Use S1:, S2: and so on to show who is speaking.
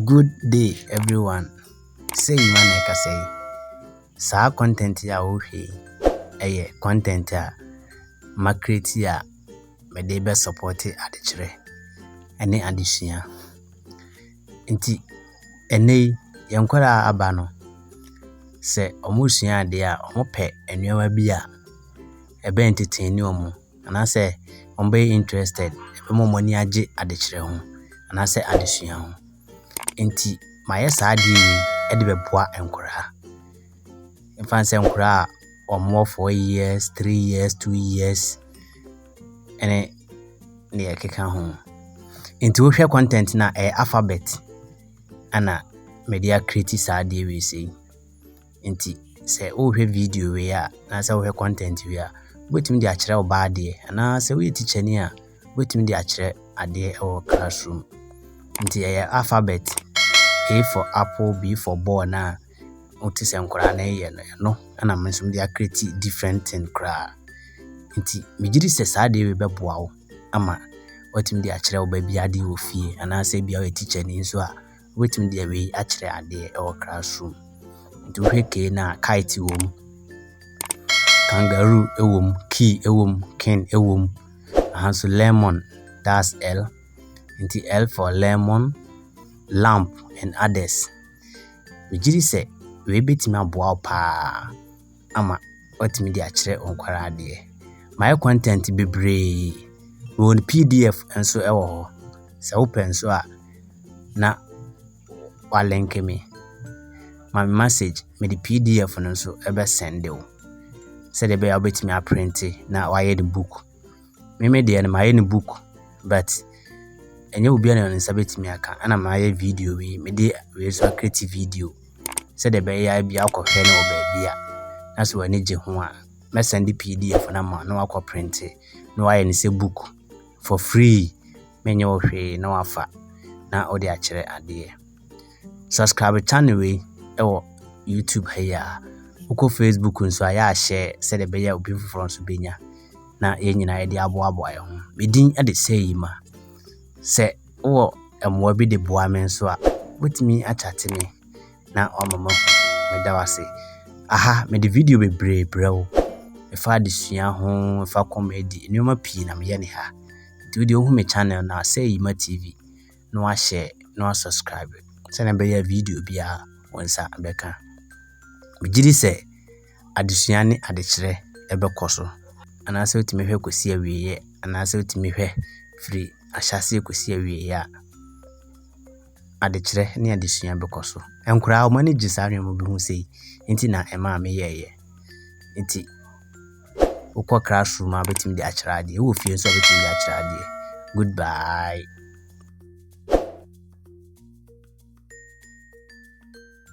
S1: Good day everyone, sei Nima na ɛkasa yi. Saa content yi a wohwɛ yi, ɛyɛ content a ma create a mede bɛ support adekyerɛ ɛne adesua. Nti ɛnɛ yi yɛn nkwadaa a aba no, sɛ wɔresua adeɛ a wɔpɛ nneɛma bi a ɛbɛ entertain wɔn. anaasɛ wɔbɛyɛ interested, ɛbɛma wɔn ani agye adekyerɛ ho anaasɛ adesua ho. Enti mayɛ saa adeɛ wei de bɛboa nkwadaa. Ɛmfa ho sɛ nkwadaa a wɔwɔ four years, three years, two years ne deɛ ɛkeka ho. Enti wohwɛ content no a, ɛyɛ alphabet na mede acreate saa adeɛ wei sei. Enti sɛ wohwɛ video wei a anaasɛ wohwɛ content wei a wobɛtumi de akyerɛ wo ba adeɛ anaasɛ woyɛ tikyani a wobɛtumi de akyerɛ adeɛ wɔ classroom nti ɛyɛ alphabet a for apple b for ball no a wote sɛ nkwadaa no yɛ no ɛno ɛna me nso mede akreti different thing koraa nti megye di sɛ saa adeɛ wei bɛboa wo ama watumi de akyerɛ wo ba bi adeɛ wɔ fie anaasɛ bia woyɛ tikyani nso a Wobɛtumi de wei akyerɛ adeɛ wɔ classroom. Nti wohwɛ kei no a kite wɔ mu, kangaroo wɔ mu, key wɔ mu, king wɔ mu. Aha nso lemon, that's L. Nti L for lemon, lamp and others. Megye di sɛ wei bɛtumi aboa wo paa. ama watumi de akyerɛ nkwadaa adeɛ. Mayɛ content bebree. Mewɔ no pdf nso wɔ hɔ. Sɛ wopɛ nso a na woalɛnke me. Ma me message, mede pdf no nso bɛsɛnde wo sɛdeɛ ɛbɛyɛ a wobɛtumi aprente na woayɛ no book. Me me deɛ no mayɛ no book but ɛnyɛ obiara na ne nsa bɛtumi aka ɛna mayɛ video wei mede wei nso akreti video sɛdeɛ ɛbɛyɛ a bi akɔhwɛ no wɔ baabi a na sɛ w'ani gye ho a mɛsɛn de pdf no ama na wakɔ printe na wayɛ no sɛ book for free menyɛ wo hwee na wafa na wode akyerɛ adeɛ. Subscribe channel wei wɔ YouTube ha yi a wokɔ Facebook nso a yɛahyɛ sɛdeɛ ɛbɛyɛ obi foforɔ nso bɛnya na yɛn nyinaa yɛde aboaboa yɛn ho medin de sɛ yi ma sɛ wowɔ mmoa bi de boa me nso a wobɛtumi akyate me na wama ma meda wo ase aha mede video bebree brɛ wo ɛfa adesua ho ɛfa kɔmɛdi nneɛma pii na meyɛ ne ha nti wodeɛ wohu me channel na sɛ yi ma tv na wahyɛ na wasubscribe sɛnea ɛbɛyɛ a video biara wo nsa bɛka. Megye di sɛ adesua ne adekyerɛ bɛkɔ so anaasɛ wotumi hwɛ kɔsi awieeɛ anaasɛ wotumi hwɛ firi ahyɛaseɛ kɔsi awieeɛ a adekyerɛ ne adesua bɛkɔ so. Nkoraa wɔn ani gye saa nneɛma bi ho sei nti na ɛmaa meyɛeɛ. Nti Wokɔ classroom a wobɛtumi de akyerɛ adeɛ, wowɔ fie nso a wobɛtumi de akyerɛ adeɛ. Goodbye.